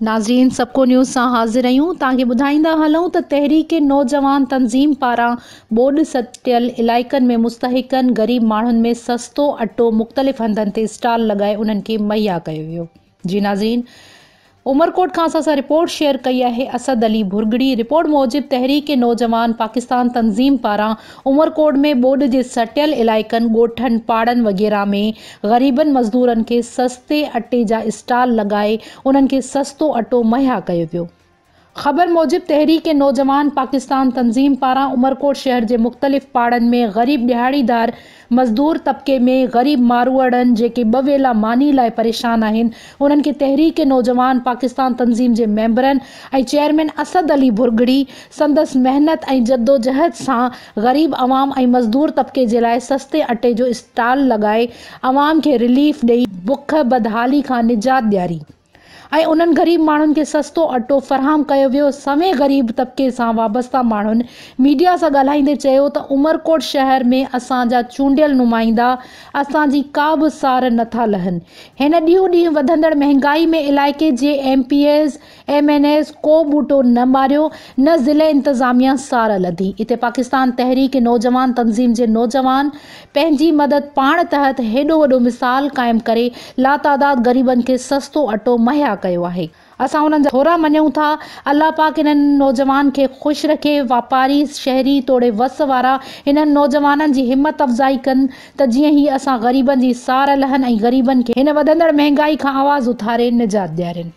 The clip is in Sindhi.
ناظرين سبڪو نيوز سان حاضر آهيون توهان کي ٻڌائيندا هلون ته تحريڪ نوجوان تنظيم پاران ٻوڏ ستيل علائقن ۾ مستحقن غريب ماڻهن ۾ سستو اٽو مختلف هنڌن تي اسٽال لڳائي انهن کي مهيا ڪيو ويو جي ناظرين عمرڪوٽ کان اسان سان رپورٽ شيئر ڪئي آهي اسد علي ڀرڳڙي رپورٽ موجب تحريڪ نوجوان پاڪستان تنظيم پاران عمرڪوٽ ۾ ٻوڏ جي سٽيل علائقن ڳوٺن پاڙن وغيره ۾ غريبن مزدورن کي سستي اٽي جا اسٽال لڳائي انهن کي سستو اٽو مهيا ڪيو ويو خبر موجب تحريڪ نوجوان پاڪستان تنظيم پاران عمرڪوٽ شهر جي مختلف پاڙن ۾ غريب ڏهاڙيدار مزدور طبقي ۾ غريب ماروئڙن جيڪي ٻه ويلا ماني لاء پريشان آهن انهن کي تحريڪ نوجوان پاڪستان تنظيم جي ميمبرن ۽ چيئرمين اسد علي ڀرڳڙي سندس محنت ۽ جدوجهد سان غريب عوام ۽ مزدور طبقي جي لاء سستي اٽي جو اسٽال لڳائي عوام کي رليف ڏئي بک بدحالي کان نجات ڏياري. ۽ انهن غريب ماڻهن کي سستو اٽو فراهم ڪيو ويو. سوين غريب طبقي سان وابسته ماڻهن ميڊيا سان ڳالهائيندي چيو ته عمرڪوٽ شهر ۾ اسان جا چونڊيل نمائندا اسان جي ڪا به سار نه ٿا لهن. هن ڏينهون ڏينهن وڌندڙ مهنگائي ۾ علائقي جي M P As, M N As ڪو ٻوٽو نه ماريو نه ضلعي انتظاميا سار لڌي. اتي پاڪستان تحريڪ نوجوان تنظيم جي نوجوان پنهنجي مدد پاڻ تحت هيڏو وڏو مثال قائم ڪري لاتعداد غريبن کي سستو اٽو مهيا ڪيو آهي. اسان انهن جا ٿورا مڃون ٿا. الله پاڪ انهن نوجوان کي خوش رکي. واپاري، شهري توڙي وس وارا انهن نوجوانن جي همت افزائي ڪن ته جيئن هي اسان غريبن جي سار لهن ۽ غريبن کي هن وڌندڙ مهنگائي کان آواز اٿاري نجات ڏيارين.